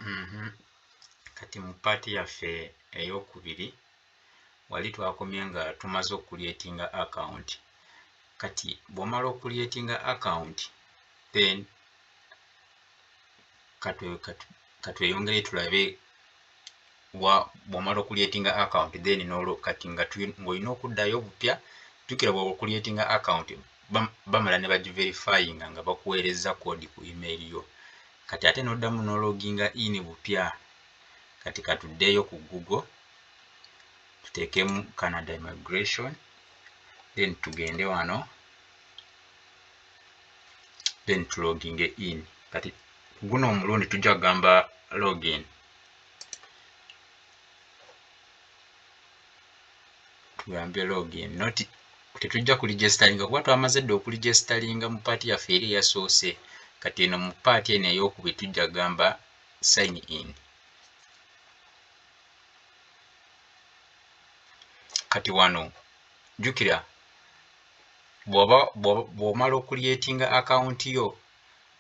Mhm. kati mu paati yaffe eyokubiri wali twakomye nga tumaze okuliyetinga akawunti kati bwomala okuliyetinga akawunti then katweyongere tulabe wa bwomala okuliyetinga account then nolo kati nga ngolina okuddayo obupya jukira bwaba okuliyetinga account bamala ne bagiverifyinga nga bakuweerezza kodi ku email yo kati ate noddamu nologinga in bupya kati katuddeeyo ku google tuteekemu canada immigration then tugende wano then tuloginge in kati guno omulundi tujja kugamba login tugambe login not tetujja ku registeringa kuba twamaze dde oku registeringa mu paati yaffe eri eyasoose kati eno mu paati eno eyokubiri tujja gamba sign in kati wano jukira bwomala okuliyetinga akawunti yo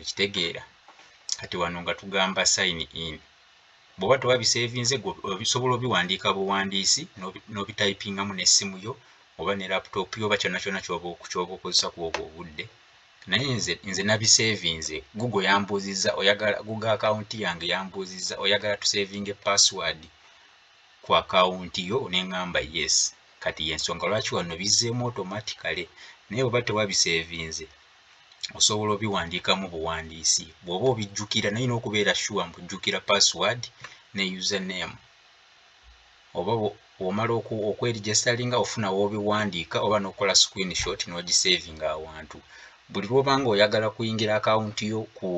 okitegeera kati wano nga tugamba sign in bwoba toba bisevinze osobola obiwandiika buwandiisi n'obitayipingamu n'essimu yo oba ne laptop yo oba kyonna kyonna kyoba okozesa ku obwo obudde naye nze nze nabisevinze google yambuuzizza oyagala google akawunti yange yambuuzizza oyagala tusevinge password ku akawunti yo neŋamba yes kati yensonga lwaki wano bizzeemu automatically naye oba tewabisevinze osobola obiwandiikamu buwandiisi bw'oba obijjukira naye n'okubeera shuwa mbu jjukira password ne username oba bw'omala okwerijasitalinga ofuna w'obiwandiika oba n'okukola screenshot n'ogisavinga awantu buli lw'obanga oyagala kuyingira akawunti yo ku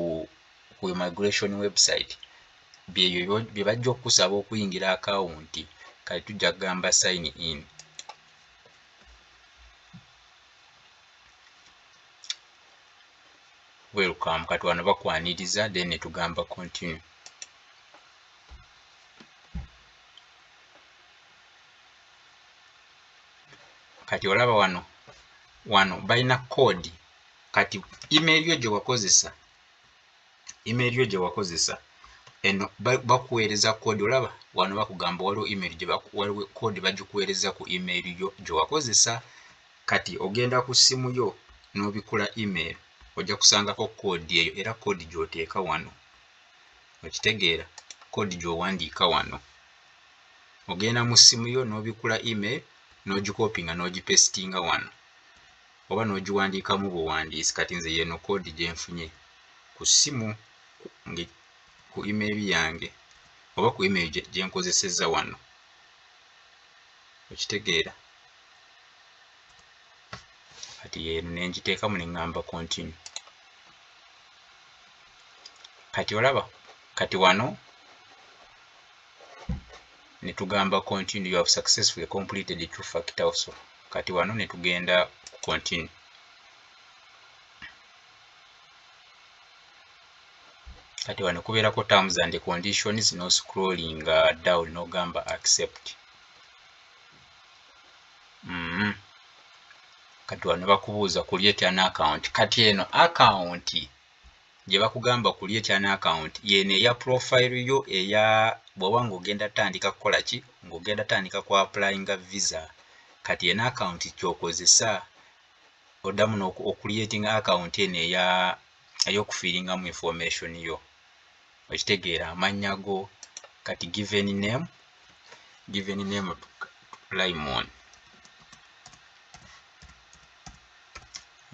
ku immigration website byebyo bye bajja okukusaba okuyingira akawunti kati tujja kugamba sign in welcome kati wano bakwaniriza then netugamba continue kati olaba wano wano balina code kati email yo gyewakozesa email yo gyewakozesa eno bakuweereza code olaba wano bakugamba waliwo email waliwo code bagikuweereza ku email yo gyewakozesa kati ogenda ku ssimu yo n'obikkula email ojja kusangako koodi eyo era koodi gy'oteeka wano okitegeera koodi gy'owandiika wano ogenda mu ssimu yo n'obikkula email n'ogikopinga n'ogipesitinga wano oba n'ogiwandiikamu buwandiisi kati nze yeeno koodi gye nfunye ku ssimu ku email yange oba ku email gye nkozesezza wano okitegeera kati yeeno nengiteekamu neŋŋamba continue kati olaba kati wano netugamba continue you have successfully completed the two factor also kati wano netugenda continue kati wano kubeerako terms and conditions no scrolling uh, down nogamba accept mm -hmm. kati wano bakubuuza create an account kati eno account gye bakugamba create an account yeno eya profile yo eya bwoba ng'ogenda tandika kukola ki ng'ogenda tandika ku applyinga visa kati eno account kyokozesa oddamu okuliatinga account eno eya ey'okufiiringamu information yo okitegeera amannya go kati given name given name limon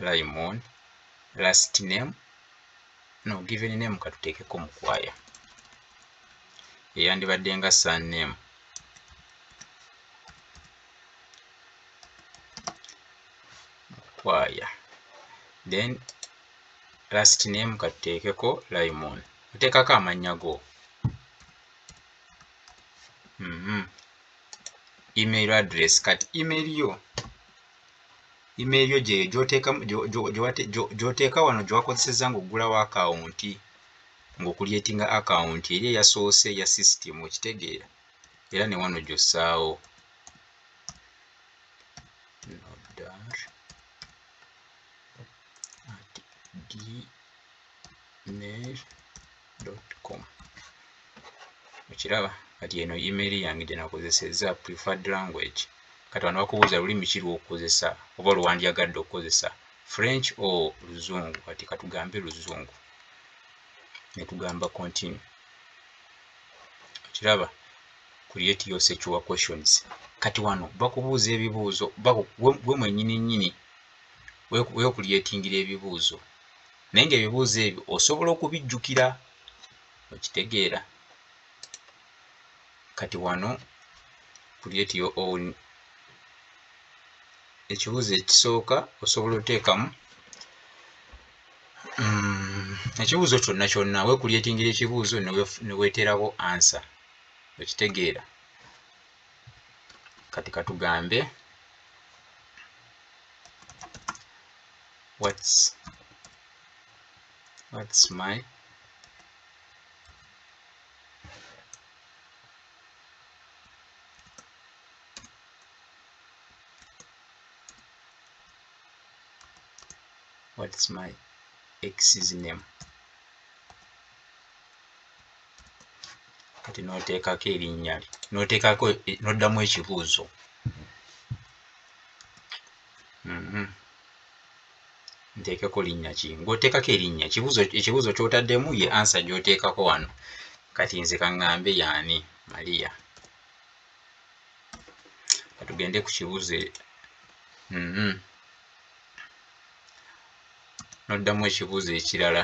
limon last name no given name katuteekeko mukwaya eyandibadde nga sun name mukwaya then last name katuteekeko limon oteekako amannya go mm -hmm. email address kati email yo email yo gyeyo gyoteeka wano gyewakozeseza ngaoggulawo akawunti ngaokulyetinga akawunti eri eyasoose ya system okitegeera era ne wano gyossaawo nodar at gmail.com okiraba kati eno email yange gyenakozeseza preferred language kati wano bakubuuza lulimi ki lwokukozesa oba lwewandyagadde okukozesa french o luzungu kati katugambe luzungu netugamba continue okiraba create your sexual questions kati wano bakubuuza ebibuuzo gwe mwenyini nyini wekulyetingira ebibuuzo naye nga ebibuuzo ebyo osobola okubijjukira okitegeera kati wano create your own ekibuuzo ekisooka osobola oteekamu mm, ekibuuzo kyonna kyonna wekulyetingira ekibuuzo neweterabo answer okitegeera kati katugambe what's what's my what's my x's name kati noteekako erinnya lye noteekako e, noddamu ekibuuzo mhm. nteekeko linnya ki ngaoteekako erinnya ekibuuzo kyotaddemu ye ansa gyoteekako wano kati nze kaŋŋambe yaani maria katugende ku kibuuzo e, mhm. noddamu ekibuuzo ekirala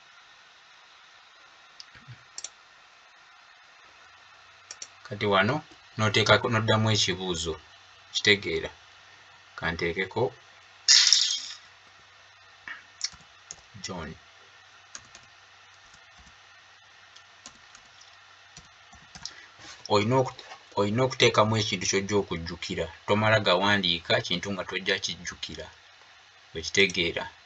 kati wano noteekako noddamu ekibuuzo kitegeera kanteekeko john olina okuteekamu ekintu kyojja okujjukira tomala gawandiika kintu nga tojja kijjukira okitegeera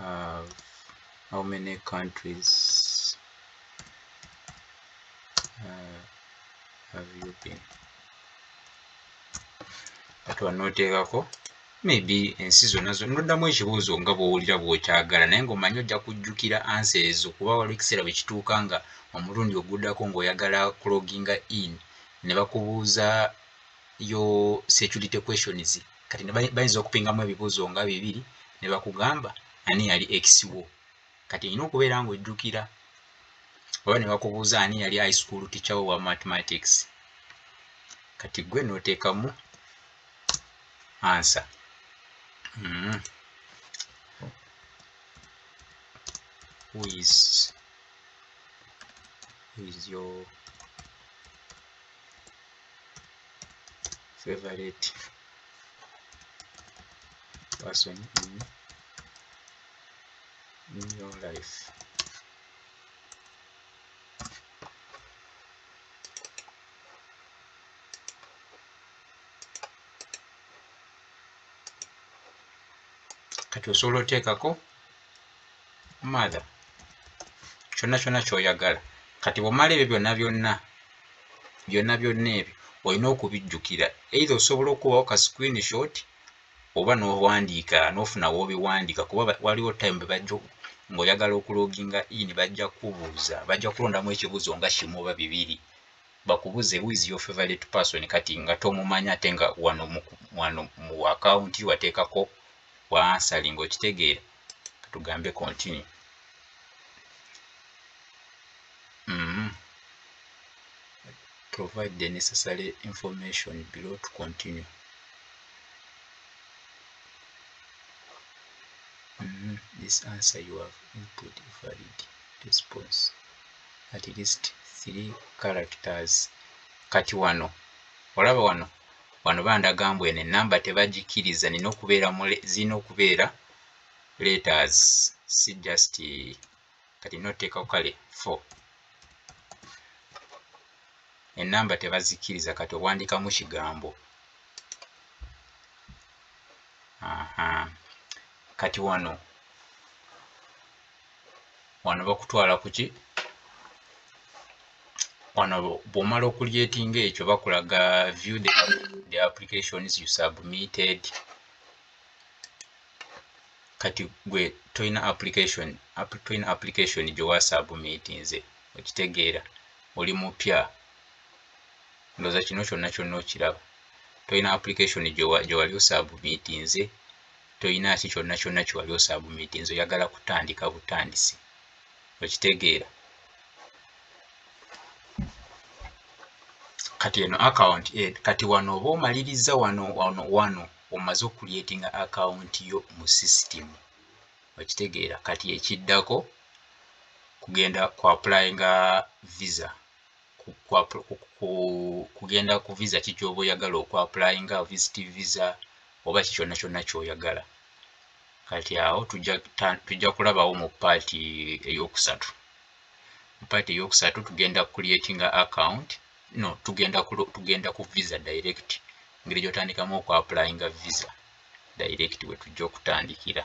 have how many countries uh, have you been atuwa noteekako maybe ensi zonna zo noddamu ekibuuzo nga bwowulira bwokyagala naye ngaomanyi ojja kujjukira ansa ezo kuba waliwo ekiseera bwe kituuka nga omulundi oguddako ngaoyagala cloginga in ne bakubuuza your security questions kati bayinza okupingamu ebibuuzo nga bibiri ne bakugamba ani yali ex wo kati olina okubeera ng'ojjukira oba ne bakubuuza ani yali high school teacher wo wa mathematics kati gwe n'oteekamu ansa mm. who is, who is your favorite person in, in your life kati osobola oteekako mother kyonna kyonna kyoyagala kati bwomala ebyo byonna byonna byonna byonna ebyo olina okubijjukira eitha osobola okubawo ka screen shot oba nowandiika nofuna wobiwandiika kuba waliwo time bebajja ngaoyagala okuloginga in bajja kubuuza bajja kulondamu ekibuuzo nga kimu oba bibiri bakubuze who is your favorite person kati nga tomumanya ate nga wano mu account wateekako wa answering okitegeera tugambe continue mm-hmm. provide the necessary information below to continue mm-hmm. this answer you have input valid response at least three characters kati wano olaba wano wano bandaga mbu eno enamba tebagikiriza nina okubeera zirina okubeera letters si just kati noteekako kale four enamba tebazikkiriza kati owandikamu kigambo aha kati wano wano bakutwala kuki wano bwomala okulyetinga ekyo bakulaga view the, the applications you submitted kati gwe tolina application tolina application gye wasaabumiitinze okitegeera oli mupya ndoza kino kyonna kyonna okiraba tolina application gye wali osaabumiitinze tolina ki kyonna kyonna kye wali osaabumiitinze oyagala kutandika butandisi okitegeera kati eno account eh, kati wano oba omalirizza wano wano wano omaze okuliyetinga akawunti yo mu sisitimu okitegeera kati ekiddako kugenda ku appulayinga visa kugenda ku visa ki kyoba oyagala oku appulayinga visit visa oba ki kyonna kyonna kyoyagala kati awo tujja kulabawo mu paati eyokusatu mu paati eyokusatu tugenda kuliyetinga akawunti no tugenda ku tugenda ku visa direct ngeri gyotandikamu oku applyinga visa direct we tujja okutandikira